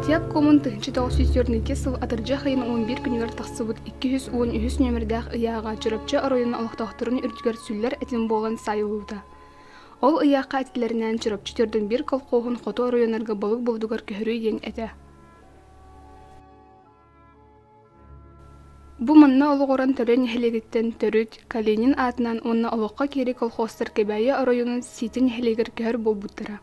Партия куомун тыһычы тоҕус сүүс төрникки сыл атырдьах ыйын он биир күнүгэр тахсыбыт икки жүз уон үһүс нүөмэрдээх ыйааҕа Чурапчы оройуон олохтоохторун үрдүгэр сүллэр этин буолан саайыллыбыта. Ол ыйаахха этилэринээн Чурапчы төрдүн биир колхоһун хоту оройунарга Балык Булдугар көһөрүү диэн этэ Бу манна олоҕуран Төлө нэһилиэгиттэн төрүт Калинин аатынан уонна олоххо киирии колхозтар Кэбээйи оройуонун Сиити нэһилиэгэр көһөр буолбуттара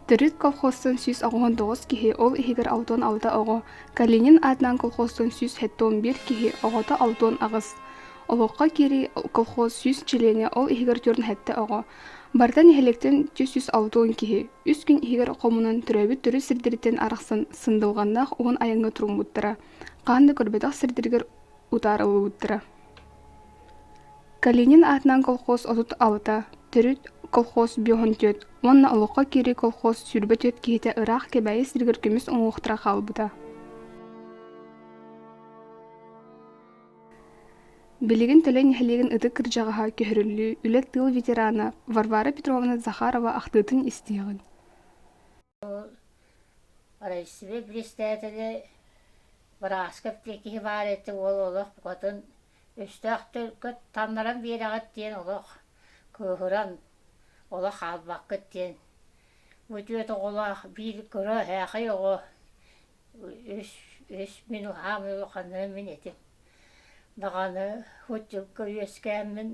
Төрүт колхозтан сүүс оҕоһун тоҕус киһи, ол иһигэр алтан алта оҕо. Калинин аатынан колхозтан сүүс сэттион биир киһи, оҕото алтан аҕыс. Олоххо киирии колхоз сүүс чилиэнэ, ол иһигэр түөрт сэттэ оҕо. Барыта нэһилиэктэн түөрт сүүс алтан киһи. Үс күн иһигэр хомунан төрөөбүт төрүт сирдэриттэн арахсан сындылҕаннаах уһун айаҥҥа туруммуттара. Хаан да көрбөтөх сирдэригэр утаарыллыбыттара калинин аатынан колхоз отут алта төрүт колхоз биоһун түөрт уонна олоххо киирии колхоз сүүрбэ түөрт киһитэ ыраах кэбээйи сиригэр көмүс уҥуохтара хаалбыта билигин төлөн нэһилиэгин ытык кырдьаҕаһа көһөрүллүү үлэ тыыл ветерана варвара петровна захарова ахтыытын истиэҕиҥ Россия бириэстээтэлэ Бырааскап диэн киһи баар этэ, уол олох букатын өстөөх төлкө таннаран биэрэҕит диэн олох кыыһыран, олох хаалбаккыт диэн бу түөрт оҕолоох биир кыра эһээхэй оҕо үс үс мин улахан улаханым мин этим даҕаны худдюкка үөскээммин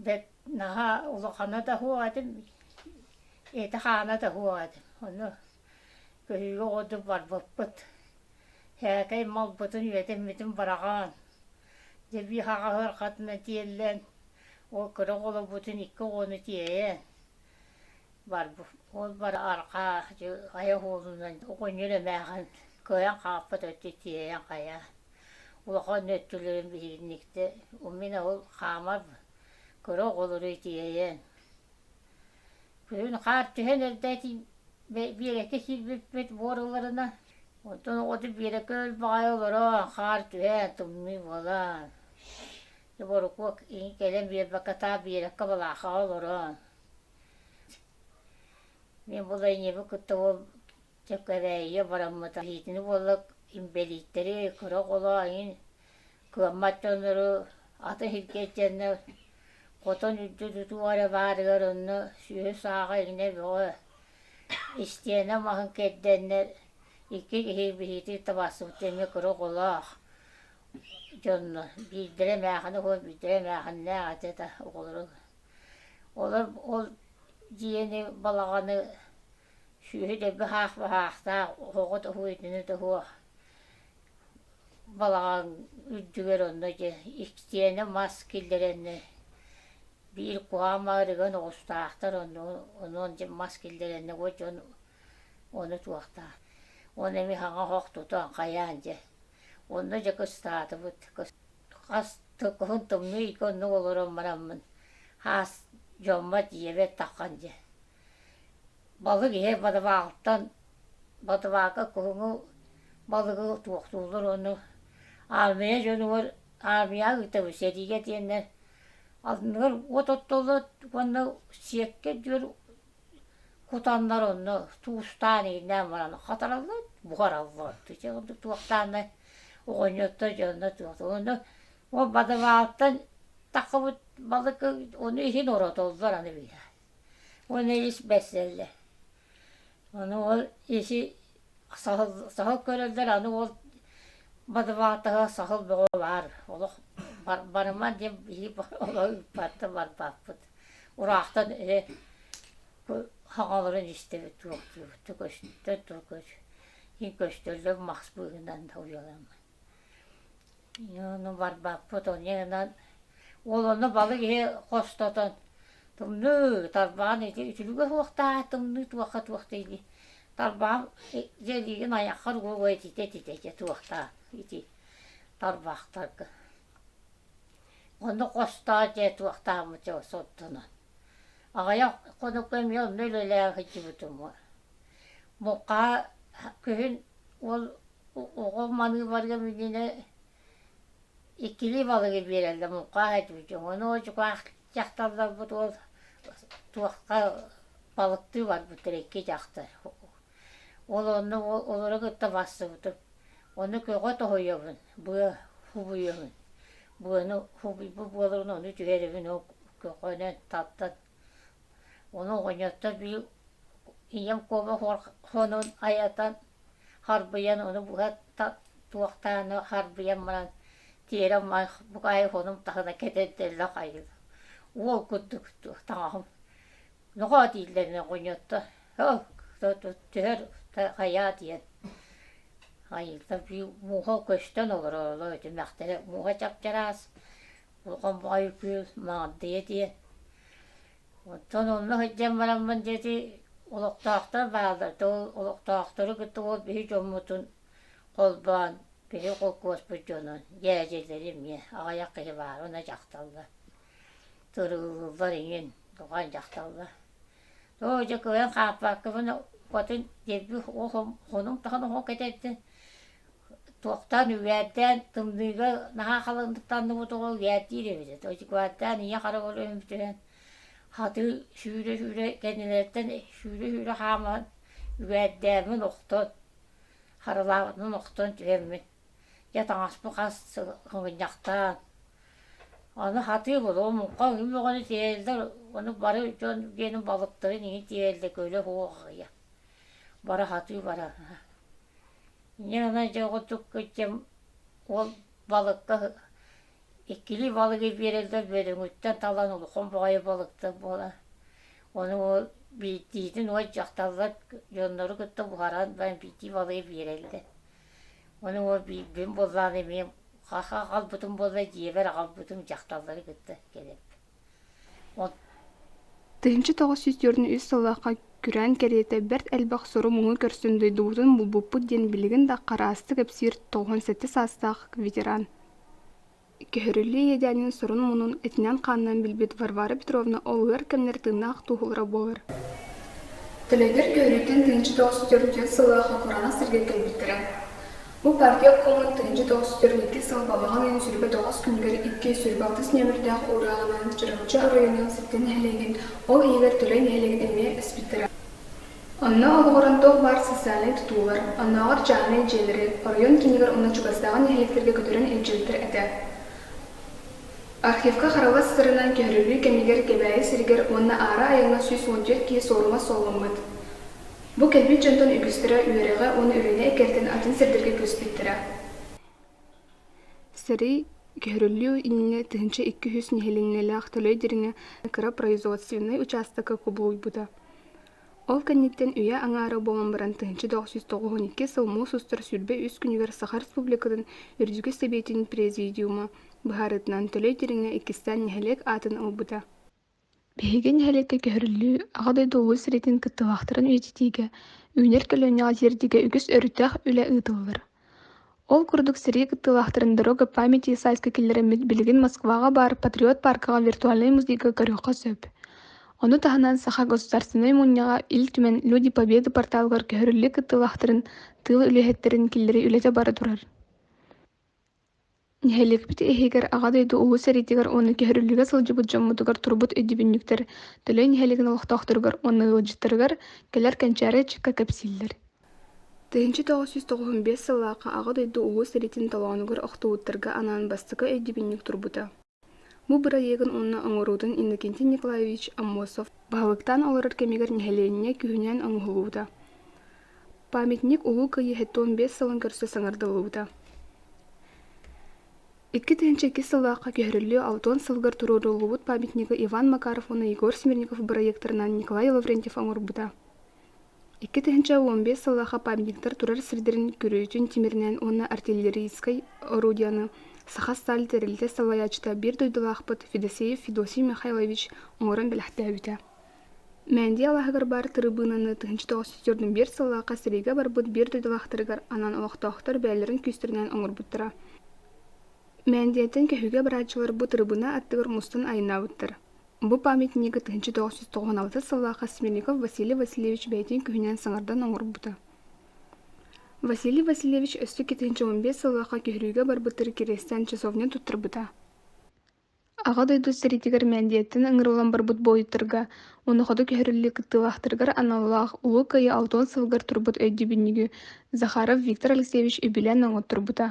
бэрт наһаа улахана да суох этим ити-хаана да суох этим ону көһүүгэ курдук барбыппыт сээкэй малбытын үөтэммитин быраҕаан дьэбиэһаҕа сыарҕатынан тиэллэн ол кыра оҕолорбутун икки оҕону тиэйэн барбыт. Ол бары арҕаа хайа уолунан оҕонньор эмээхин кыайан хаалбыт өттө тиэйэн хайа улахан өттүлэрин биһигинниктэ умина ол хаамар кыра оҕолору тиэйэн күһүн хаар түһэн эрдээтин биэрэкэ киирбиппит буоруларына онтон оҕото биэрэкэ өлбэҕэй олорон хаар түһээн тымныы буолан Борукуок кэлэн биэрбэккэ таап биэрэккэ балаахаҕа олорон мин бу Лайнебу кытта ол Чэккэрээйигэ бараммыта иитини буолла инбэлииттэри кыра оҕолоон кыаммат дьоннору аты илгэйдэннэ хотон үрдү тутуу эрэ баарыгар онно сүөһү сааҕа иҥнэ бөҕө истиэнэ маһын кэрдэннэр икки киһи биһиити табаахсыбыт эмиэ кыра оҕолоох дьонно биирдэрэ мээхэни биирдэрэ мээхэннээх этэ да оҕолоро олор ол дьиэни балаҕаны сүөһү дэлби аһаах баһаахтаах оһоҕу тоһуо итини тоһуо балаҕан үрдүгэр онно дьэ иксиэнэ мас киллэрэннэ биир куһаҕан маарыган оҕустаахтар онно онон дьэ мас киллэрэннэ уот дьон ону туохтаах оны эмиэ хаҥа оһох тута хайаан дьэ Онно дьэ кыстаатыбыт. Хас да куһун тымныы ити оннук олорон бараммын, аас дьоммот ийэбэр таххан дьэ. Балык иһэ ботобаалтан ботобаалга куһуҥу балыгы туохтууллар ону армия дьонугар армияҕа ыытабыт сэриигэ диэннэр анныгар от оттоллор уонна сиэккэ диэн Кутаннар онно туустаан иһиннээн баран хатараллар, буһараллар. Ити ордук туохтааннар оҕонньоттор дьонно туохтааннар ол бадабаалтан таххыбыт балык ону иһин оротоллор аны биһэ. Уонна ис бэрсэллэр. Ону ол isi саһыл саһыл көрөллөр аны ол бадыбаалтаһа саһыл бөҕө баар. Олох бар барыман диэн иһи олох ыыппат да барбаппыт. Ураахтан эрэ хаҥаларын истэбит туруктуубут көстө көт иһин көстөллөр мас быыһынан уйаламмыт ону барбаппыт онньанан уол ону балык иһи хостотон тымныы тарбаҕын ити үтүлүгэ суохтаа тымныы туохха туох дэйди тарбаҕым дьэлиигин айаххар угуга ититэ ититэ туохтаа ити тарбаахтарга Ону хостоо дьэ туохтаахмыт ол соттунан. Аҕыйах хонукка эмиэ онно үлэлээн сылдьыбытым мукаа күһүн ол оҕом маныыбарыгым иннинэ иккилии балыгы биэрэллэр мукаа этибитин ону дьукаах дьахталларбыт ол туохха балыктыы барбыттар икки дьахтар Ол онно олору кытта барсыбытым. Ону көҕө тоһуйабын, быа хубуйабын. Быаны хубуйбут буолабын, ону түһэрибин көҕөнөн тартан. Ону оҕонньоттор били ийэм куобах хонун айатан харбыйан ону быһа туохтааны харбыйан баран тиэрэ бук аайы хонум таһына кэтэрдэллэ хайыы. Уол курдук таҥаһым нохоо дииллэрин оҕонньоттор оо төһө хайаа диэн айыылар мууха көстөн олорооллор этимэхтэрэ мууха чапчараас хомоҕой кыыл маҥырдыйа диэн оттон онно сылдьан бараммын диэки олохтоохтор бааллар то олохтоохтору кытта ол биһи дьоммутун холбоон биһи холкуоспут дьонун дьээдьэлэри эмиэ аҕыйах киһи баара уонна дьахталлар Туруллуллар ийин, тугай дьахталлар. Оо дьэ кыайан хааппааккабын укатын диэбит хонуҥ таһын оһо кэтэрдин туохтаан үбээрдээн тымныыга наһаа халандыктанныбыт оҕо үбээрдиир эбитэ тойукааттаан ийэ хараҕар өмүтүһэн хатыы сүүрэ-сүүрэ кэннилэриттэн сүүрэ-сүүрэ хааман үбээрдээммин охтон харылаабытынан охтон түһэммин Дьэ таҥаспын хас сыл хомунньахтаан, аны хатыы буолуо, муҥха үһү бөҕөнү тиэйэллэр, ону бары дьон диэни балыктарын иһин тиэйэллэр, көлө суох аҕыйа. Бара хатыы бараҕа. Инньэ гынан дьэ оҕотук кыдьым уол балыкка иккилии балыгы биэрэллэр, бөдөҥүттэн талан улахан баҕайы балыктар буолан, ону биирдиитин уот дьахталлар дьоннору кытта буһаран баран биирдии балыгы биэрэллэр. Ону уол биирдин буоллаҕына эмиэ хаха аҕалбытым буолла дьиэбэр аҕалбытым дьахталлары кытта кэлэбит. Тыһыынча тоҕус сүүс түөртүн үс сыллаахха күрээн кэриэтэ бэрт элбэх сору муҥу көрсөн дойдубутун булбуппут диэн билигин да хараастык кэпсиир тоҕуон сэттэ саастаах ветеран Көһөрүллүү иэдээнин сорун-мунун этинэн-хаанынан билбит Варвара Петровна олуйар кэмнэр тыыннаах туоһулара буолар Төлөпүөр көһөрүүтүн тыынча тоҕус төрүтүн сыллааҕы кураанах сиргэ кэлбиттэрэ. Бу партия куолун тыынча тоҕус төрүт сыл балаҕан ыйын сүүрбэ тоҕус күнүгэр икки сүүрбэ алтыс нүөмэрдээх уурааҕынан Чорочу оройуонун сэттэ нэһилиэгин, ол иһигэр Төлөй нэһилиэгин эмиэ эспиттэрэ. Онно олоҕуран туох баар социальнай тутуулар, оннооҕор чаҕынай дьиэлэри, оройуон киинигэр уонна чугастааҕы нэһилиэктэргэ көтөрөн илдьибиттэр этэ. Архивка харалас сырынан көһөрүллүү кэмигэр Кэбээйи сиригэр уонна аара айаҥҥа сүүс уон түөрт киһи суорума суолламмыт. Бу кэлбит дьонтон үгүстэрэ үөрэҕэ уонна үрүөнэ эккирэтин атын сирдэргэ көспүттэрэ. Сэрии көһөрүллүү иннинэ тыһыынча икки үс нэһилиэнньэлээх Төлөй дириҥэ кыра производственнай учаастакка кубулуйбута. Ол кэнниттэн үйэ аҥаара буолан баран тыһыынча доҕус тоҕуһун иккис сыл муус устар сүүрбэ үс күнүгэр Саха Республикатын Үрдүкү Сэбиэтин Президиума быһаарыытынан Төлөй Дириҥэ иккистээн нэһилиэк аатын ылбыта. Биһиги нэһилиэккэ көһөрүллүү Аҕа дойду Улуу сэриитин кыттыылаахтарын үйэтитиигэ, үүнэр көлүөнэҕэ тиэрдиигэ үгүс өрүттээх үлэ ыытыллар. Ол курдук сэрии кыттыылаахтарын Дорога памяти сайска киллэрэммит билигин Москваҕа баар Патриот пааркаҕа виртуальнай музейга көрүөххэ сөп. Ону таһынан Саха Государственнай Мунньаҕа Ил Түмэн «Люди Победы» порталыгар көһөрүллүү кыттыылаахтарын тыыл үлэһиттэрин киллэрии үлэтэ бара турар. Нэһилиэкпит иһигэр Аҕа дойду Улуу сэриитигэр уонна көһөрүллүгэ сылдьыбыт дьоммутугар турбут өйдөбүнньүктэр Төлөй нэһилиэгин олохтоохторугар уонна ыалдьыттарыгар кэлэр кэнчээри ыччакка кэпсииллэр. тыһыынча тоҕус жүз тоҕуһун биэс сыллаахха Аҕа дойду Улуу сэриитин толоонугар охтубуттарга анаан бастакы өйдөбүнньүк турбута Бу бырайыагын уонна оҥоруутун Иннокентий Николаевич Аммосов баһылыктаан олорор кэмигэр нэһилиэнньэ күһүнүн оҥоһуллубута. Памятник Улуу Кыайыыһа туон биэс сылын көрсө саҥардыллыбыта. Икки тыһыынча иккис сыллаахха көһөрүллүү алтан сылыгар туруоруллубут памятнигы Иван Макаров уонна Егор Смирников бырайыактарынан Николай Лаврентьев оҥорбута. икки тыһыынча уон биэс сыллаахы памятниктар турар сирдэрин көрүүтүн тимиринэн уонна артиллерийскай орудиены саха сталь тэрилтэ салайааччыта биир дойдулаахпыт федосеев федосий михайлович оҥорон бэлэхтээбитэ мээндий алааһыгар баар тырыбыынаны тыһыынча тоҕус жүз сордун биэс сыллаахха сэриигэ барбыт биир дойдулаахтарыгар анан олохтоохтор бэйэлэрин күүстэринэн оҥорбуттара мээндиттэн көһүүгэ барааччылар бу тырыбыына аттыгар мустан айаннаабыттар Бу памятнигы тыһыынча тоҕус жүз тоҕуһун алта сыллаах Смельников Василий Васильевич бэйэтин күһүнэн саҥардан оҥорбута. Василий Васильевич өссө кэтинчэ он биэс сыллаахха көһөрүүгэ барбытыгар кириэстээн часовня туттарбыта. Аҕа дойду сэриитигэр Мээндиэттэн ыҥырыллан барбыт буойуттарга, онохото көһөрүллүү кыттыылаахтарыгар аналлаах Улуу Кыайыы алтан сылыгар турбут өйдүбүнньүгү Захаров Виктор Алексеевич үбүлээн оҥотторбута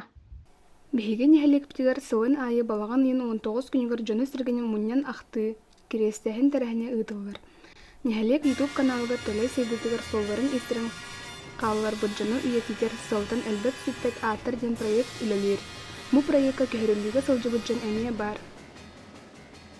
Биһиги нэһилиэкпитигэр сылын аайы балаҕан ыйын уон тоҕус күнүгэр дьоно-сэргэни мунньан ахтыы, кириэстээһин тэрээһинэ ыытыллар. Нэһилиэк YouTube каналыгар Төлөй сайдыытыгар суолларын иттэрэн хаалларбыт дьону үйэтитэр Сылтан элбэт-сүппэт ааттар диэн проект үлэлиир. Бу проекка көһөрүллүүгэ сылдьыбыт дьон эмиэ баар.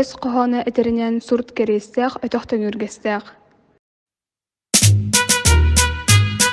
өс хоһооно этэринэн сурут кэриэстээх өтөх төҥүргэстээх